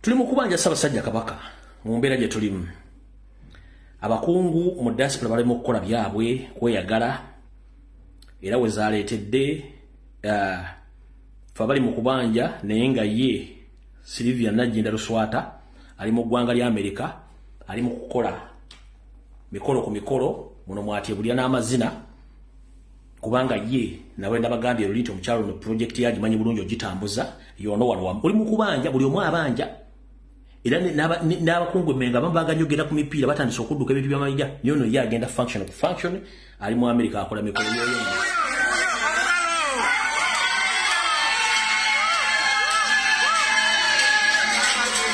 Tuli mu kubanja Ssabasajja Kabaka mu mbeera gye tulimu. Abakungu mu diaspora balema okukola byabwe kweyagala era we zaaleetedde uh, fe abali mu kubanja naye nga ye Sylvia Najjinda Luswata ali mu ggwanga lya Amerika ali mu kukola mikolo ku mikolo muno mwatye bulya n'amazina kubanga ye nawe nabagambye lulita omukyalo no project yaji manyi bulungi ogitambuza yono wano wamu oli mukubanja buli omu abanja era n'abakungu emenga abamu baganyogera ku mipiira batandise okudduka ebintu byamayija yono ye agenda function ku function ali mu amerika akola mikolo yoyo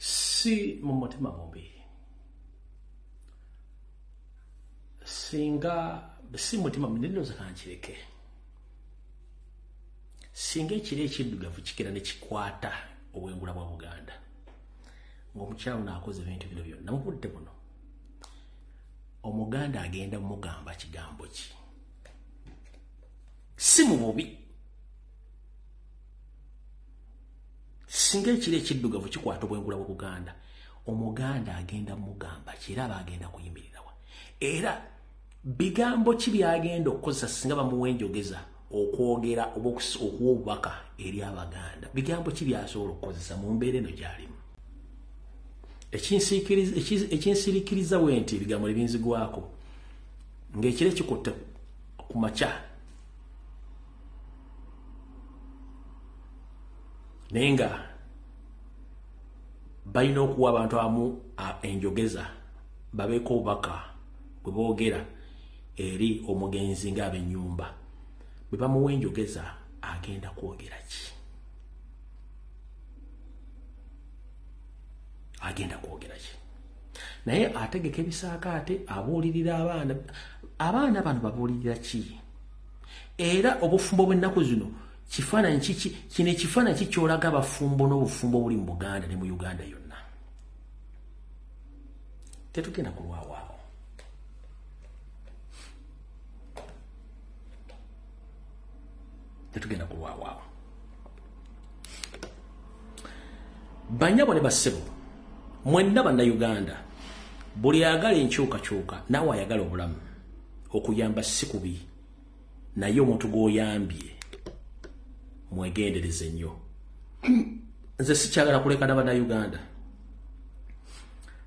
si mu mutima mubi singa si mutima munendoza kankireke singa ekiro ekiddugavu kigera ne kikwata obwengula bwa buganda ng'omukyalo naakoze ebintu bino byonna mu budde buno omuganda agenda mugamba kigambo ki si mu bubi singa ekiro ekiddugavu kikwata obwengula bwa buganda omuganda agenda mugamba ki era aba agenda kuyimiriza era bigambo ki byagenda okukozesa singa bamuwa enjogeza okwogera oba okuwa obubaka eri abaganda bigambo ki byasobola okukozesa mu mbeera eno gyalimu ekinsirikiriza we nti ebigambo nebinzigwako ngaekiro ekikutte ku makya naye nga balina okuwa abantu amu enjogeza babeeko obubaka bwe boogera eri omugenzi ng'abennyumba bwe bamuwa enjogeza agenda kwogera ki agenda kwogera ki naye ategeka ebisaaka ate abuulirira abaana abaana bano babuulirira ki era obufumbo bw'ennaku zino kifaananyi kiki kino ekifaananyi ki kyolaga abafumbo n'obufumbo obuli mu buganda ne mu uganda yonna tetugenda kulwawaako tetugenda kulwawaako banyabo ne bassebo mwenna bannayuganda buli agala enkyukakyuka naawe ayagala obulamu okuyamba si kubi naye omuntu gwoyambye mwegendereze nnyo nze sikyagala kuleka na banauganda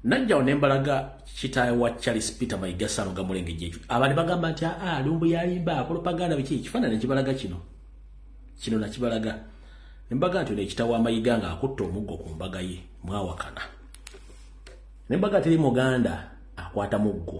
najjawo nembalaga kitaawe wa charles peter maigasano gamulengejja ekyo abandi bagamba nti aa ah, ah, lumbu yalimba akolopaganda biki ekifaanana ekibalaga kino kino nakibalaga nembaga nti ono ekitawo amayiga nga akutta omuggo ku mbaga ye mwawakana nembaga teri muganda akwata muggo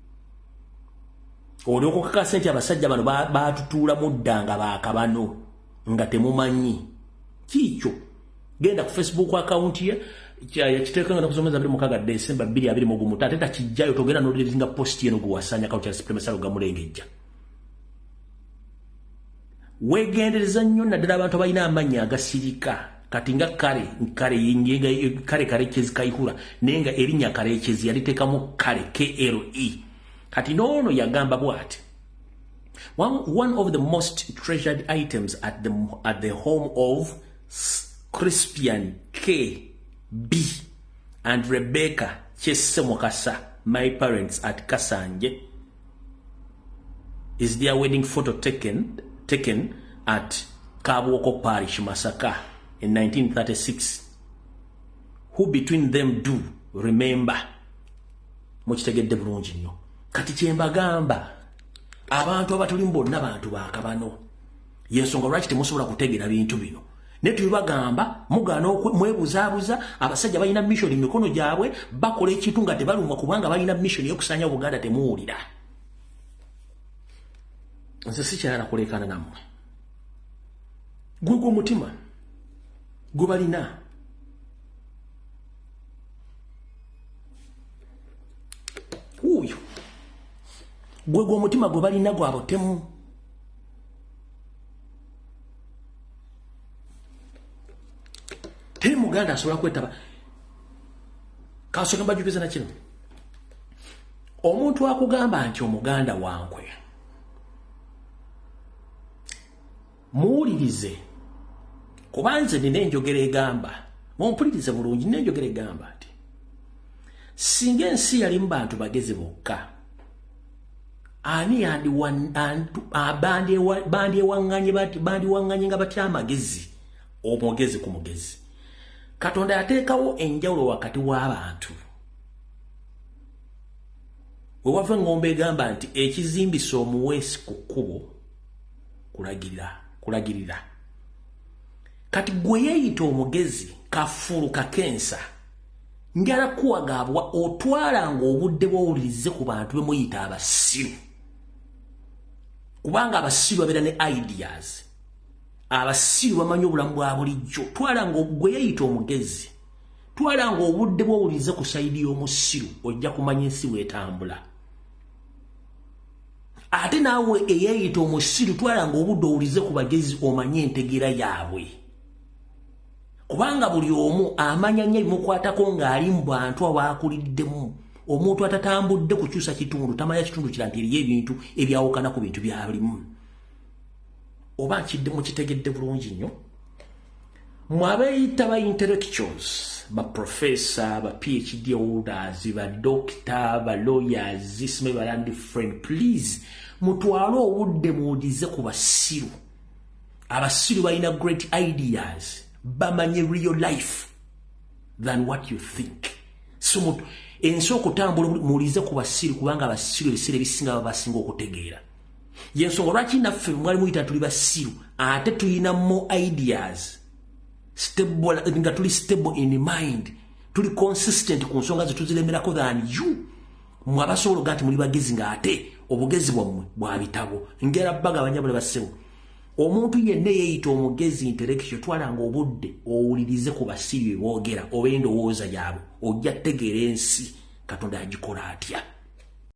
olyokukakasa nti abasajja bano batutuula mudda nga bakabano nga temumanyi kiikyo genda ku facebook account ye yakiteeka nga nakusomeza biri mukaga desemba biri abiri mugumu tate takijjayo togenda nolirizinga post yeno gwewasanya kawo kya supreme salo gamulengejja wegendereza nnyo naddala abantu abalina amannya agasirika kati nga kale kale yenga kale kale kyezi kaihura naye nga erinya kale kyezi yalitekamu kale KLE kati noono yagamba bwati one, one of the most treasured items at the, at the home of Crispian KB and Rebecca Chese Mukasa my parents at Kasanje is their wedding photo taken, taken at Kabwoko Parish, Masaka in 1936. Who between them do remember? Mukitegedde bulungi nnyo. Kati kyembagamba abantu abatuli mbonna bantu bakabano. yensonga lwaki temusobola kutegera bintu bino naye tubibagamba mugaana mwebuzaabuza abasajja balina missioni mumikono gyabwe bakola ekintu nga tebalumwa kubanga balina missioni yokusanya obuganda temuwulira nze sikyayala kulekana nammwe gwegwo omutima gwe balina wuuyo gwegwo omutima gwe balina gwabutemu teri muganda asobola kwetaba kansonga mbajukiza na kino omuntu akugamba nti omuganda wankwe muwulirize kuba nze nina enjogera egamba mumpulirize bulungi nina enjogera egamba nti singa ensi yalimu bantu bagezi bokka ani bandyewaŋŋanye bandiwaŋŋanye nga batya amagezi omugezi ku mugezi katonda yateekawo enjawulo wakati w'abantu we wava eŋŋombo egamba nti ekizimbisa omuweesi ku kkubo kulagirira kulagirira kati gwe yeeyita omugezi kafulu kakensa njala kuwagaabwa otwalanga obudde bwowulirize ku bantu bemuyita abasiru kubanga abasiru babeera ne ideas abasiru bamanyi obulamu bwa bulijjo twalanga gwe yeyita omugezi twalanga obudde bwowulirize ku saidi y'omusiru ojja kumanya ensi wetambula ate naawe eyeyita omusiru twalanga obudde owulize ku bagezi omanye entegera yaabwe kubanga buli omu amanya nnyo ebimukwatako ng'ali mu bantu abaakuliddemu omuntu atatambudde kukyusa kitundu tamanya kitundu kira nti eriyo ebintu ebyawukana ku bintu byalimu oba nkidde mukitegedde bulungi nnyo mwe abeeyita ba intellectuals ba professor ba phd holders ba doctor ba lawyers zisime balandi friend please mutwale obudde muwudize ku basiru abasiru balina great ideas bamanye real life than what you think so ensi okutambula muwulize ku basiru kubanga abasiru ebiseera ebisinga baba basinga okutegeera yensonga lwaki naffe mwali muyita tuli basiru ate tulina mo ideas stable nga tuli stable in mind tuli consistent ku nsonga zetuziremerako than you mwe abasobola oga nti muli bagezi nga ate obugezi bwammwe bwa bitabo ngera bagabanya buli basebo omuntu yenna eyeyita omugezi intellectual twalanga obudde owulirize ku basibi beboogera oba endowooza yaabwe ojja kutegeera ensi katonda yagikola atya